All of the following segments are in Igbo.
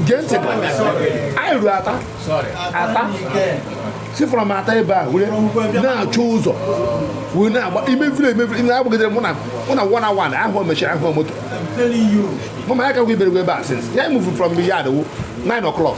gee ntị anyị ruru ata ata si from ata ebe a were na-achọ ụzọ wee na-agba imefiri emefiri na-agbagidere mụ na mụ na one hour na ahụ machine ahụ moto mama ya kakwa iberegwa ebe a since ya move from the yard wo 9 o'clock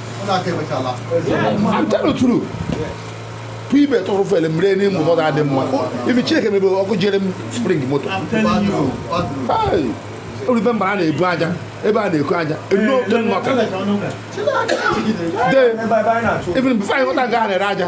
I'm telling the truth. ibe tụrụ fele mere n'ime ụzọ na-adị mma ibi Chineke mebe ọkụ jere m spring moto oribe mba a na-ebu aja ebe a na-eku aja even before anyị ghọta nga a na-ere aja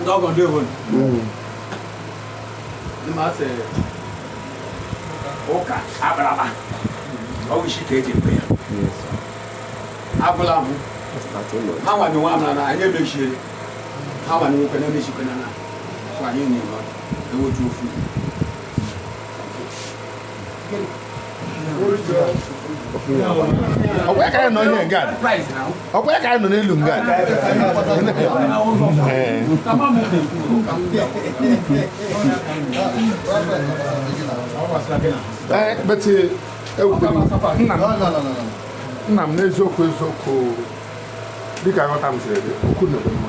ndị ọgọ ndị obodo ndị ma sị ụka akpara akpa ọ wụ isi ka e ji ekwe ya agwụla m ha nwa nwe amara na anyị emechie ha nwa nwoke na emechikwe na na anyị na-enwe ewotu ofu ọkwa ya ka anyị nọ ihe nga ọkwa ya ka anyị nọ n'elu nga Ee. Ee, but eh, ewutere m. nna m nna m n'eziokwu eziokwu dịka nghọta m siri dị okwu na-ebe mma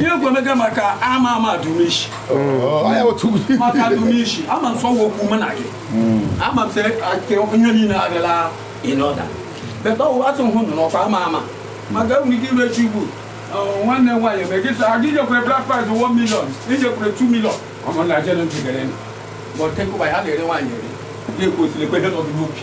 ihe egwu emega maka ama ama adumishi maka adumishi ama m sọwa okwu mụ na gị ama m sị ake ihe niile abịala ịnọda beta ọ wụ atụ hụ nụ n'ọkwa ama ama maka enwere ike ire chi ugbu nwanne m nwaanyị eme gị sị aga ijekwere bride price 1 million ijekwere 2 million ọmụ na jere ntị gere nụ bọtụ nkụba ya na-ere nwaanyị ere ga-ekwesịrị ekwe ihe nọdụ n'obi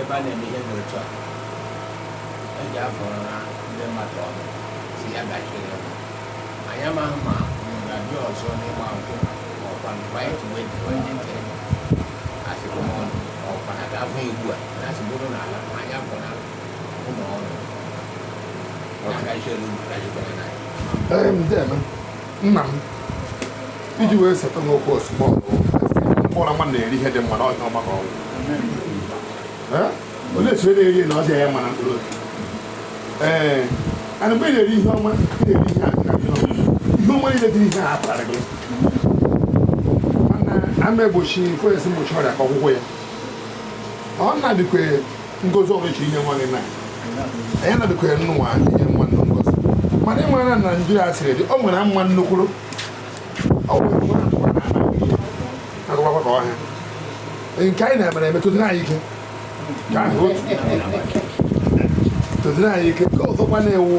ebe a na-eme ihe dị otu a e ji afọrọ na ndị mmadụ ọnụ si ya gachiri ya anyị amaghị ma unu ga-abịa ọzọ n'ịgba nkwụ ma ọkwa mgbe anyị ji wee jiwe ndị ntị asịkwa m ọnụ ma ọkwa na ga-abụ ugbu a na asị bụrụ na ala ma anyị afọ na ụlọ ọrụ na gachiri unu gachikwara na anyị Ee, m dị eme. nna m i ji wee seta n'okwu ozugbo mkpụrụ mma na-eri ihe dị mma na ọjọọ maka ọgwụ onye si eri eri na ọjọọ ya mara mkpụrụ obi ee ana mgbe ị na-eri ihe ọma ị na-eri ihe a na ihe ọma ihe ọma niile dị ihe a atara gị ama egbochi kwesị mgbochi ọrịa ka ọgwụgwọ ya ọ na-adịkwa ngozi ọrụ chiri inye nwa gị na anyị na-adịkwa ya nnụnwa inye nwa nnụ ngozi mana ị mara na Naịjirịa siri dị o nwere mma nnukwuru agụwakwa ka ọhịa nke anyị na-emere eme tụdịrị anyị ike ka ahụ tụdịrị anyị ike ka ọzọkwa na-ewu